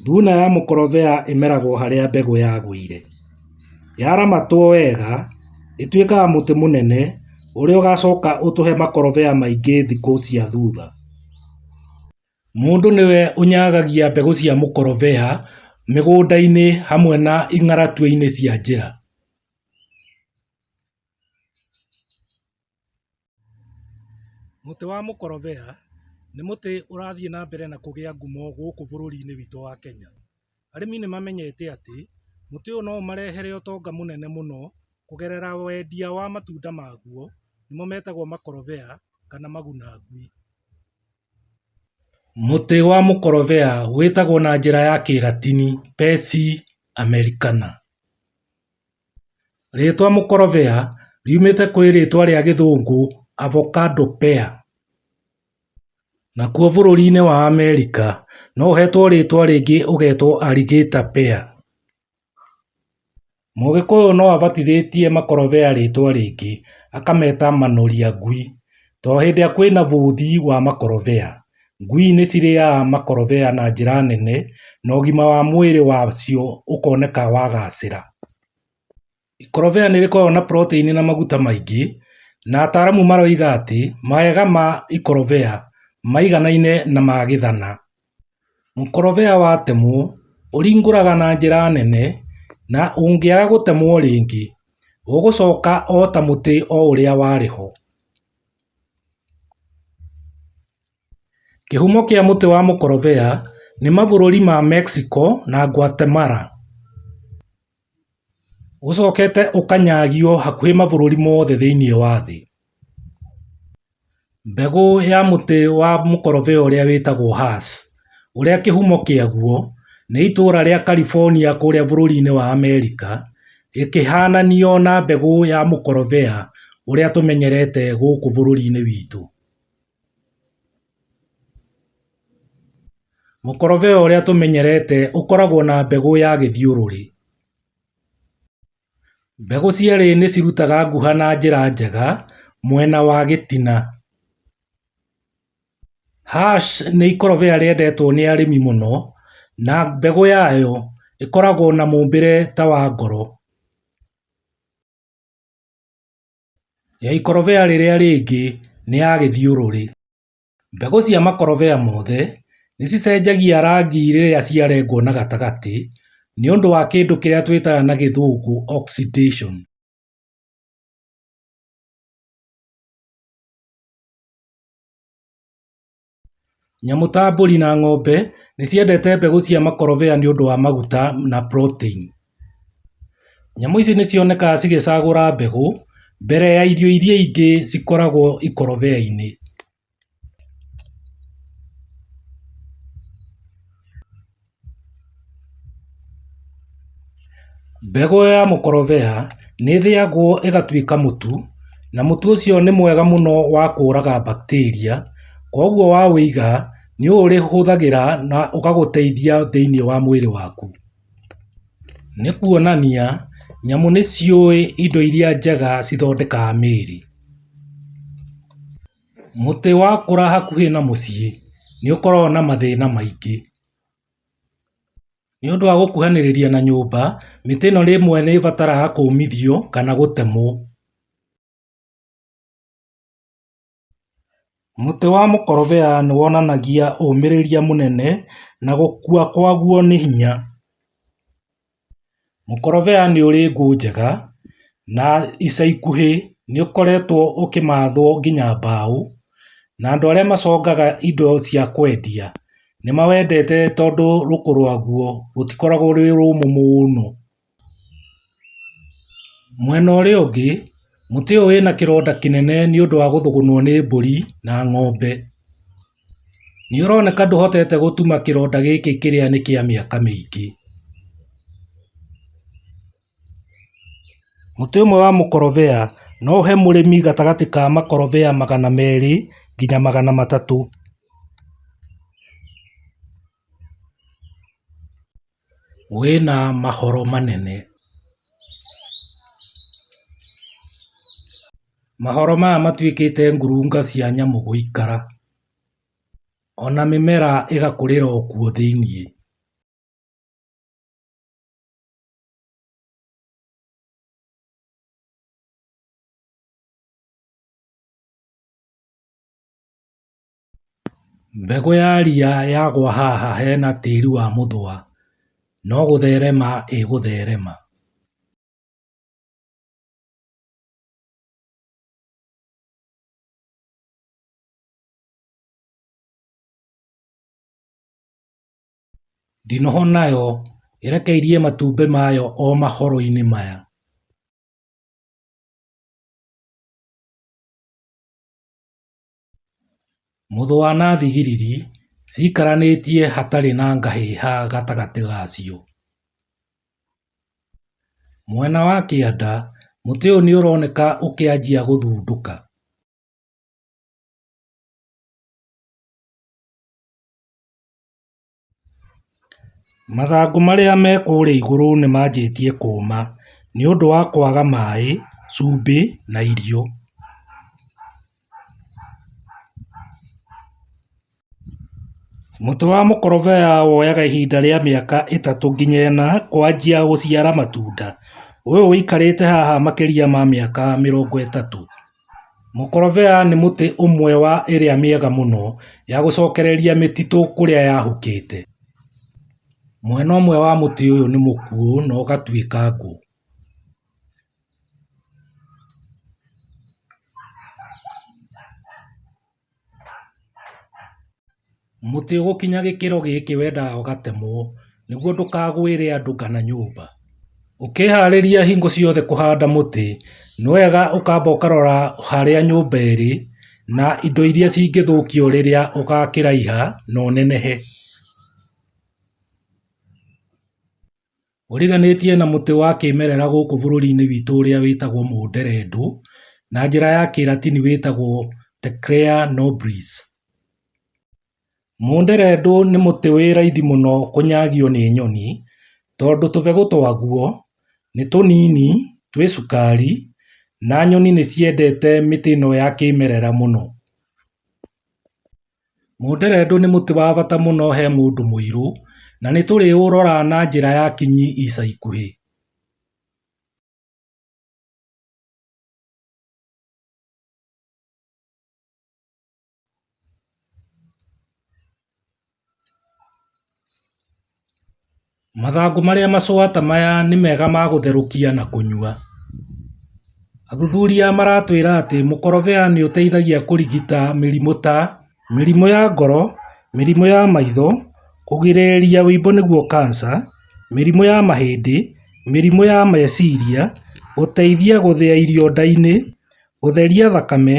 Thuna ya mũkorobea ĩmeragwo harĩa mbegũ yagũire. Yaramatwo wega ĩtuĩkaga mũtĩ mũnene ũrĩa ũgacoka ũtũhe makorobea maingĩ thikũ cia thutha. Mũndũ nĩwe ũnyagagia mbegũ cia mũkorobea mĩgũnda-inĩ hamwe na ing'aratũinĩ cia njĩra. Mũtĩ wa mũkorobea nĩ mũtĩ ũrathiĩ na mbere na kũgĩa ngumo gũkũ bũrũri-inĩ witũ wa Kenya. Arĩmi nĩ mamenyete atĩ mũtĩ ũyũ no ũmarehere ũtonga mũnene mũno kũgerera wendia wa matunda maguo nĩmo metagwo makorobea kana maguna ngui. Mũtĩ wa mũkorobea wĩtagwo na njĩra ya kĩratini Pecci Americana. Rĩĩtwa mũkorobea riumĩte kwĩ rĩĩtwa rĩa gĩthũngũ avocado pear, nakuo bũrũri-inĩ wa America no ũhetwo rĩĩtwa rĩngĩ ũgetwo alligator pear. Mũgĩkũyũ no abatithĩtie makorobea rĩĩtwa rĩngĩ akameta manoria ngui tondũ hĩndĩ ĩrĩa kwĩna bũthi wa makorobea. Ngui nĩ cirĩaga makorobea na njĩra nene na ũgima wa mwĩrĩ wacio ũkoneka wagacĩra. Ikorobia nĩ rĩkoragwo na protein na maguta maingĩ, na ataaramu maroiga atĩ mawega ma ikorobia maiganaine na ma gĩthana. Mũkorobia watemwo ũringũraga na njĩra nene na ũngĩaga gũtemwo rĩngĩ ũgũcoka o ta mũtĩ o ũrĩa warĩ ho. Kĩhumo kĩa mũtĩ wa mũkorobea nĩ mabũrũri ma Mexico na Guatemala. Ũcokete ũkanyagio hakuhĩ mabũrũri mothe thĩinĩ wa thĩ. Mbegũ ya mũtĩ wa mũkorobea ũrĩa wĩtagwo hass. ũrĩa kĩhumo kĩaguo nĩ itũũra rĩa California kũrĩa bũrũri-inĩ wa Amerika, ĩkĩhaananio na mbegũ ya mũkorobea ũrĩa tũmenyerete gũkũ bũrũri-inĩ witũ. Mũkorobea ũrĩa tũmenyerete ũkoragwo na mbegũ ya gĩthiũrũrĩ. Mbegũ cierĩ nĩ cirutaga nguha na njĩra njega mwena wa gĩtina. Hass nĩ ikorobia rĩendetwo nĩ arĩmi mũno na mbegũ yayo ĩkoragwo na mũũmbĩre ta wa ngoro. Ikorobia rĩrĩa rĩngĩ nĩ ya gĩthiũrũrĩ. Mbegũ cia makorobia mothe nĩ cicenjagia rangi rĩrĩa ciarengwo na gatagatĩ nĩ ũndũ wa kĩndũ kĩrĩa twĩtaga na gĩthũngũ oxidation. Nyamũ ta mbũri na ng'ombe nĩ ciendete mbegũ cia makorobea nĩ ũndũ wa maguta na proteini. Nyamũ ici nĩ cionekaga cigĩcagũra mbegũ mbere ya irio iria ingĩ cikoragwo ikorobia-inĩ. Mbegũ ya mũkorobea nĩ ĩthĩagwo ĩgatuĩka mũtu, na mũtu ũcio nĩ mwega mũno wa kũraga bacteria, kwoguo wa wũiga nĩ ũrĩhũthagĩra na ũgagũteithia thĩinĩ wa mwĩrĩ waku. Nĩ kuonania nyamũ nĩ ciũĩ indo iria njega cithondekaga mĩĩrĩ. Mũtĩ wakũra hakuhĩ na mũciĩ nĩ ũkoragwo na mathĩna maingĩ. Nĩ ũndũ wa gũkuhanĩrĩria na nyũmba, mĩtĩ ĩno rĩmwe nĩ ĩbataraga kũũmithio kana gũtemwo. Mũtĩ wa mũkorobea nĩ wonanagia ũmĩrĩria mũnene na gũkua kwaguo nĩ hinya. Mũkorobea nĩ ũrĩ ngũ njega na ica ikuhĩ nĩ ũkoretwo ũkĩmathwo nginya mbaũ na andũ arĩa macongaga indo cia kwendia nĩ mawendete tondũ rũkũ rwaguo rũtikoragwo rwĩ rũmũ mũno. Mwena ũrĩa ũngĩ, mũtĩ ũyũ wĩna kĩronda kĩnene nĩ ũndũ wa gũthũgũnwo nĩ mbũri na ng'ombe. Nĩũroneka ndũhotete gũtuma kĩronda gĩkĩ kĩrĩa nĩ kĩa mĩaka mĩingĩ. Mũtĩ ũmwe wa mũkorobea no ũhe mũrĩmi gatagatĩ ka makorobea magana merĩ nginya magana matatũ. wĩna mahoro manene. Mahoro maya matuĩkĩte ngurunga cia nyamũ gũikara, ona mĩmera ĩgakũrĩra o kuo thĩiniĩ. Mbegũ ya ria yagwa haha hena tĩri wa mũthũa, no gũtherema ĩgũtherema. Ndinoho nayo ĩrekeirie matumbĩ mayo o mahoro-inĩ maya. Mũthũa na thigiriri ciikaranĩtie hatarĩ na ngahĩha gatagatĩ gacio. Mwena wa kĩanda mũtĩ ũyũ nĩũroneka ũkĩanjia gũthundũka. Mathangũ marĩa me kũrĩa igũrũ nĩ manjĩtie kũũma nĩ ũndũ wa kwaga maĩ, cumbĩ na irio. Mũtĩ wa mũkorobea woyaga ihinda rĩa mĩaka ĩtatũ nginya ĩna kwanjia gũciara matunda. Ũyũ ũikarĩte haha makĩria ma mĩaka mĩrongo ĩtatũ. Mũkorobea nĩ mũtĩ ũmwe wa ĩrĩa mĩega mũno ya gũcokereria mĩtitũ kũrĩa yahukĩte. Mwena ũmwe wa mũtĩ ũyũ nĩ mũkuũ na ũgatuĩka ngũ. Mũtĩ ũgũkinya gĩkĩro gĩkĩ wendaga ũgatemwo nĩguo ndũkagwĩre andũ kana nyũmba. Ũkĩharĩria hingo ciothe kũhanda mũtĩ nĩ wega ũkamba ũkarora harĩa nyũmba ĩrĩ na indo iria cingĩthũkio rĩrĩa ũgakĩraiha na ũnenehe. ũriganĩtie na mũtĩ wa kĩmerera gũkũ bũrũri-inĩ witũ ũrĩa wĩtagwo mũnderendũ, na njĩra ya kĩratini wĩtagwo Tecrea nobris. Mũnderendũ nĩ mũtĩ wĩ raithi mũno kũnyagio nĩ nyoni, tondũ tũbegũ twaguo nĩ tũnini, twĩ cukari, na nyoni nĩ ciendete mĩtĩ ĩno ya kĩmerera mũno. Mũnderendũ nĩ mũtĩ wa bata mũno he mũndũ mũirũ na nĩtũrĩũrora na njĩra ya kinyi ica ikuhĩ Mathangũ marĩa macũa ta maya nĩ mega ma gũtherũkia na kũnyua. Athuthuria maratwĩra atĩ mũkorobea nĩ ũteithagia kũrigita mĩrimũ ta, mĩrimũ ya ngoro, mĩrimũ ya maitho, kũgirĩrĩria wĩimbo nĩguo cancer, mĩrimũ ya mahĩndĩ, mĩrimũ ya meciria, gũteithia gũthĩa irio nda-inĩ, gũtheria thakame,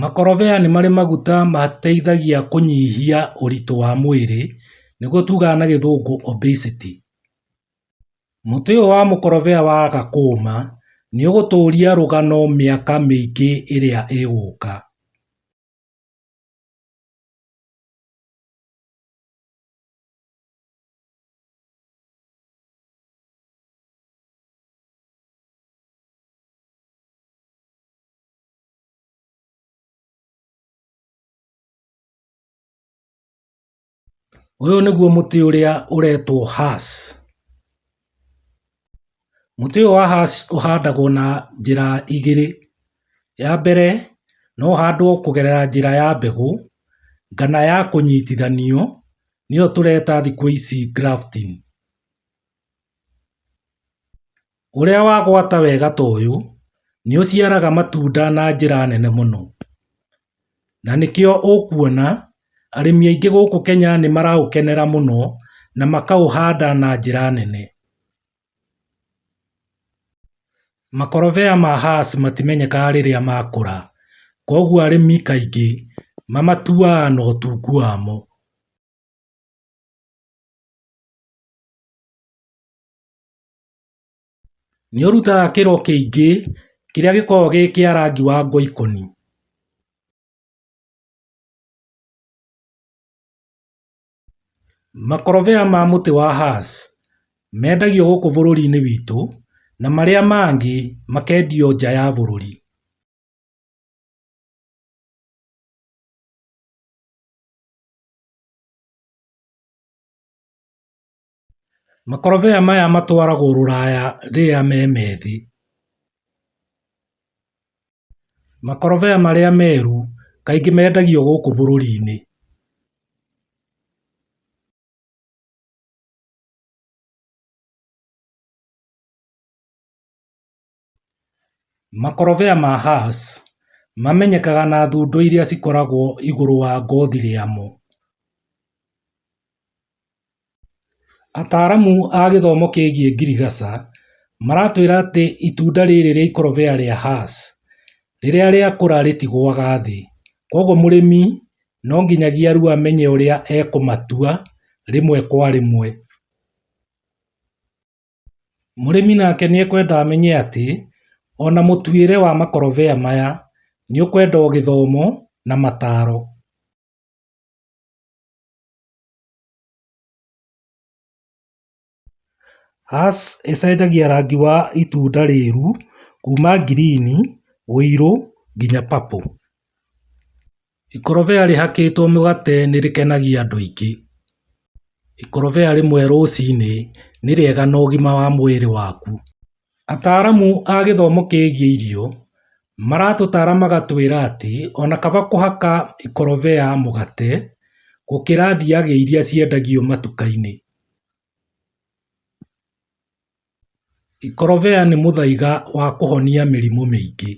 Makorobia nĩ marĩ maguta mateithagia kũnyihia ũritũ wa mwĩrĩ, nĩguo tugaga na gĩthũngũ obesity. Mũtĩ ũyũ wa mũkorobia waga kũũma, nĩ ũgũtũria rũgano mĩaka mĩingĩ ĩrĩa ĩgũka. Ũyũ nĩguo mũtĩ ũrĩa ũretwo hass. Mũtĩ ũyũ wa hass ũhandagwo na njĩra igĩrĩ. Ya mbere, no ũhandwo kũgerera njĩra ya mbegũ kana ya kũnyitithanio, nĩyo tũreta thikũ ici grafting. ũrĩa wagwata wega ta ũyũ nĩ ũciaraga matunda na njĩra nene mũno, na nĩkĩo ũkuona arĩmi aingĩ gũkũ Kenya nĩ maraũkenera mũno na makaũhanda na njĩra nene. Makorobia ma hass matimenyekaga rĩrĩa makũra, kwoguo arĩmi kaingĩ mamatuaga na ũtungu wamo. Nĩ ũrutaga kĩro kĩingĩ kĩrĩa gĩkoragwo gĩ kĩa rangi wa ngoikoni. Makorobia ma mũtĩ wa hass mendagio gũkũ bũrũri-inĩ witũ na marĩa mangĩ makendio nja ya bũrũri. Makorobia maya matwaragwo rũraya rĩrĩa me methĩ. Makorobia marĩa meru kaingĩ mendagio gũkũ bũrũri-inĩ. Makorobia ma Hass mamenyekaga na thundo iria cikoragwo igũrũ wa ngothi rĩamo. Ataaramu a gĩthomo kĩgiĩ ngirigaca maratwĩra atĩ itunda rĩrĩ rĩa ikorobia rĩa Hass rĩrĩa rĩakũra rĩtigũaga thĩ. Kwoguo mũrĩmi no nginyagia rĩu amenye ũrĩa ekũmatua rĩmwe kwa rĩmwe. Mũrĩmi nake nĩekwenda amenye atĩ ona mũtuĩre wa makorobia maya nĩũkwenda o gĩthomo na mataro. Hass ĩcenjagia rangi wa itunda rĩru kuma ngirini, ũirũ nginya purple. Ikorobia rĩhakĩtwo mũgate nĩ rĩkenagia andũ aingĩ. Ikorobia rĩmwe rũcinĩ nĩ rĩega na ũgima wa mwĩrĩ waku. Ataaramu a gĩthomo kĩgiĩ irio maratũtara magatwĩra atĩ ona kaba kũhaka ikorobia mũgate gũkĩra thiagĩ iria ciendagio matuka-inĩ. Ikorobia nĩ mũthaiga wa kũhonia mĩrimũ mĩingĩ.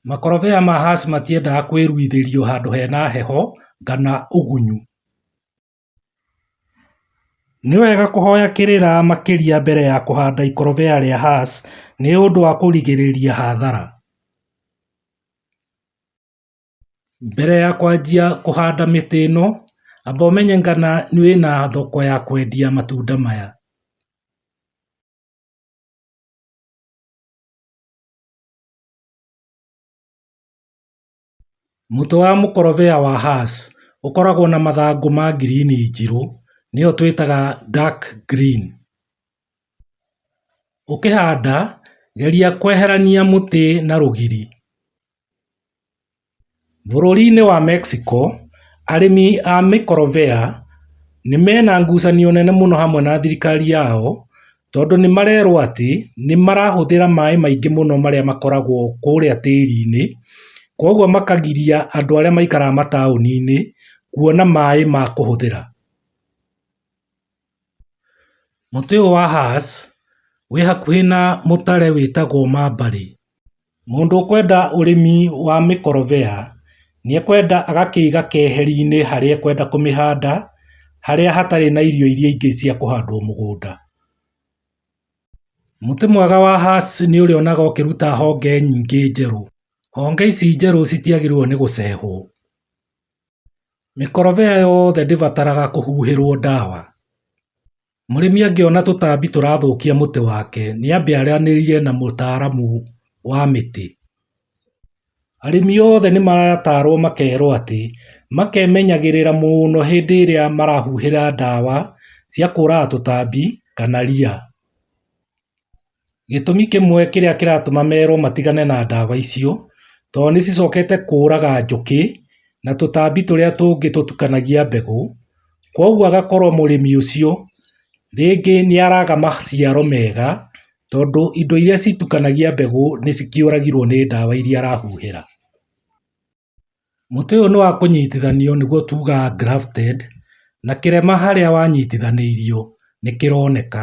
Makorobia ma hass matiendaga kũĩruithĩrio handũ hena heho kana ũgunyu. Nĩ wega kũhoya kĩrĩra makĩria mbere ya kũhanda ikorobia rĩa hass nĩũndũ wa kũrigĩrĩria hathara. Mbere ya kwanjia kũhanda mĩtĩ ĩno, amba ũmenye kana wĩna thoko ya kwendia matunda maya. Mũtĩ wa mũkorobea wa hass ũkoragwo na mathangũ ma ngirini njirũ, nĩyo twĩtaga dark green. Ũkĩhanda, geria kweherania mũtĩ na rũgiri. Bũrũri-inĩ wa Mexico, arĩmi a mĩkorobea nĩ mena ngucanio nene mũno hamwe na thirikari yao tondũ nĩ marerwo atĩ nĩ marahũthĩra maĩ maingĩ mũno marĩa makoragwo kũrĩa tĩri-inĩ, kwoguo makagiria andũ arĩa maikaraga mataũni-inĩ kuona maĩ ma kũhũthĩra. Mũtĩ ũyũ wa hass wĩ hakuhĩ na mũtare wĩtagwo mabarĩ. Mũndũ ũkwenda ũrĩmi wa mĩkorobea nĩekwenda agakĩiga keheri-inĩ harĩa ekwenda kũmĩhanda harĩa hatarĩ na irio iria ingĩ cia kũhandwo mũgũnda. Mũtĩ mwega wa hass nĩ ũrĩa ũrĩonaga ũkĩruta honge nyingĩ njerũ. Honge ici njerũ citiagĩrĩirwo nĩ gũcehwo. Mĩkorobea yothe ndĩbataraga kũhuhĩrwo ndawa. Mũrĩmi angĩona tũtambi tũrathũkia mũtĩ wake nĩ ambe aranĩrie na mũtaaramu wa mĩtĩ. Arĩmi othe nĩ maratarwo makerwo atĩ makemenyagĩrĩra mũno hĩndĩ ĩrĩa marahuhĩra ndawa cia kũraga tũtambi kana ria. Gĩtũmi kĩmwe kĩrĩa kĩratũma merwo matigane na ndawa icio, tondũ nĩ cicokete kũraga njũkĩ na tũtambi tũrĩa tũngĩ tũtukanagia mbegũ, kwoguo agakorwo mũrĩmi ũcio rĩngĩ nĩ araga maciaro mega, tondũ indo iria citukanagia mbegũ nĩ cikĩũragirwo nĩ ndawa iria arahuhĩra. Mũtĩ ũyũ nĩ wa kũnyitithanio nĩguo tugaga grafted na kĩrema harĩa wanyitithanĩirio nĩ kĩroneka.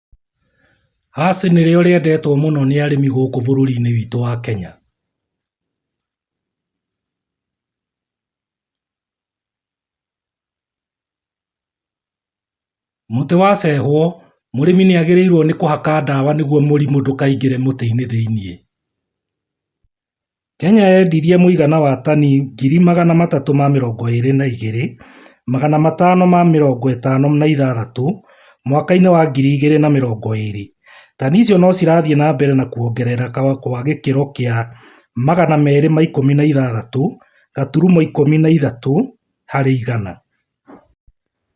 Hass nĩrĩo rĩendetwo mũno nĩ arĩmi gũkũ bũrũri-inĩ witũ wa Kenya. Mũtĩ wa cehwo, mũrĩmi nĩagĩrĩirwo nĩ kũhaka ndawa nĩguo mũrimũ ndũkaingĩre mũtĩ-inĩ thĩiniĩ. Kenya yendirie mũigana wa tani ngiri magana matatũ ma mĩrongo ĩrĩ na igĩrĩ, magana matano ma mĩrongo ĩtano na ithathatũ mwaka-inĩ wa ngiri igĩrĩ na mĩrongo ĩrĩ. Tani icio no cirathiĩ na mbere na kuongerereka kwa gĩkĩro kĩa magana merĩ ma ikũmi na ithathatũ gaturumo ikũmi na ithatũ harĩ igana.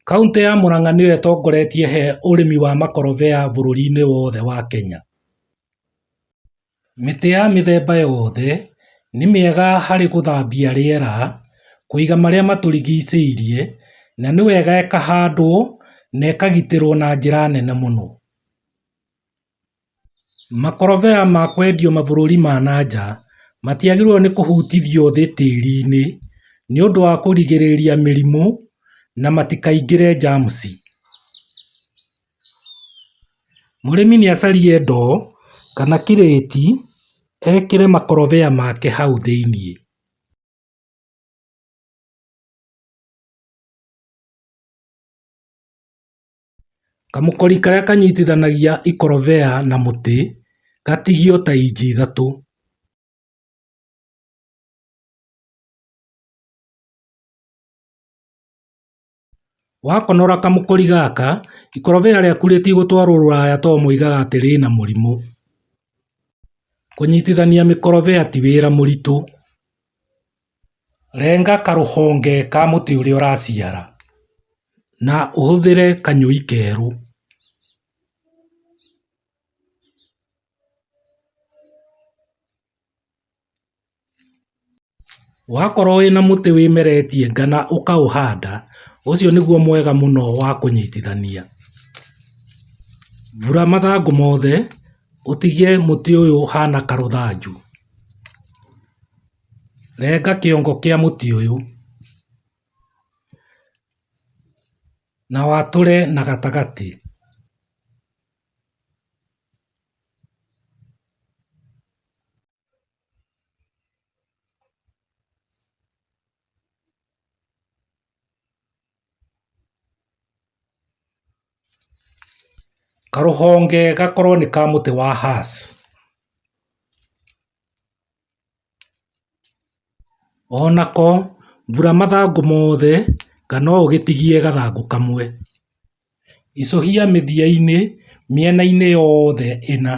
Kauntĩ ya Murang'a nĩyo ĩtongoretie he ũrĩmi wa makorobia bũrũri-inĩ wothe wa Kenya. Mĩtĩ ya mĩthemba yothe nĩ mĩega harĩ gũthambia rĩera, kũiga marĩa matũrigicĩirie na nĩ wega ĩkahandwo na ĩkagitĩrwo na njĩra nene mũno. Makorobia ma kwendio mabũrũri ma na nja matiagĩrĩirwo nĩ kũhutithio thĩ tĩri-inĩ nĩ ũndũ wa kũrigĩrĩria mĩrimũ na matikaingĩre germs. Mũrĩmi nĩacarie ndoo kana kirĩti ekĩre makorobia make hau thĩinĩ. Kamũkori karĩa kanyitithanagia ikorobia na mũtĩ gatigio ta inji ithatũ. Wakonora kamũkũri gaka, ikorobia rĩaku rĩtigũtwarwo rũraya too moigaga atĩ rĩna mũrimũ. Kũnyitithania mĩkorobia ti wĩra mũritũ. Renga karũhonge ka mũtĩ ũrĩa ũraciara na ũhũthĩre kanyũi kerũ. Wakorwo wĩna mũtĩ wĩmeretie nga na ũkaũhanda, ũcio nĩguo mwega mũno wa kũnyitithania. Vura mathangũ mothe ũtige mũtĩ ũyũ ũhana karũthanju. Renga kĩongo kĩa mũtĩ ũyũ na watũre na gatagatĩ. Karũhonge gakorwo nĩ ka mũtĩ wa hass Onako mbura mathangũ mothe kana ũgĩtigie gathangũ kamwe. Icũhia mĩthiainĩ mĩenainĩ yothe ĩna.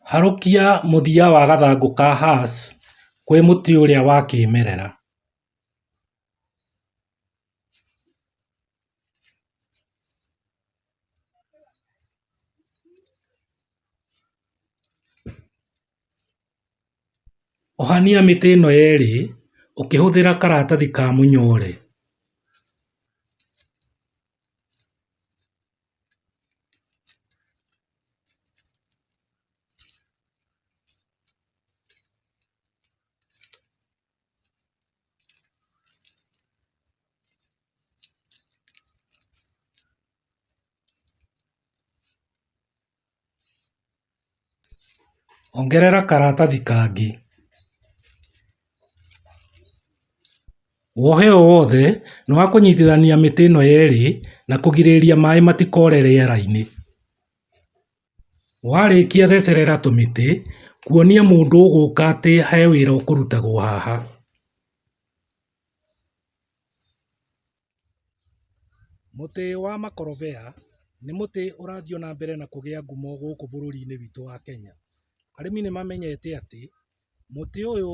Harũkia mũthia wa gathangũ ka hass kwĩ mũtĩ ũrĩa wa kĩmerera Ohania mĩtĩ ĩno yerĩ ũkĩhũthĩra karatathi ka mũnyore. Ongerera karatathi kangĩ. Wohe o wothe nĩ wa kũnyitithania mĩtĩ ĩno yerĩ na kũgirĩrĩria maĩ matikore rĩera-inĩ. Warĩkia thecerera tũmĩtĩ kuonia mũndũ ũgũka atĩ he wĩra ũkũrutagwo haha. Mũtĩ wa makorobea nĩ mũtĩ ũrathiĩ ona mbere na kũgĩa ngumo gũkũ bũrũri-inĩ witũ wa Kenya. Arĩmi nĩ mamenyete atĩ mũtĩ ũyũ...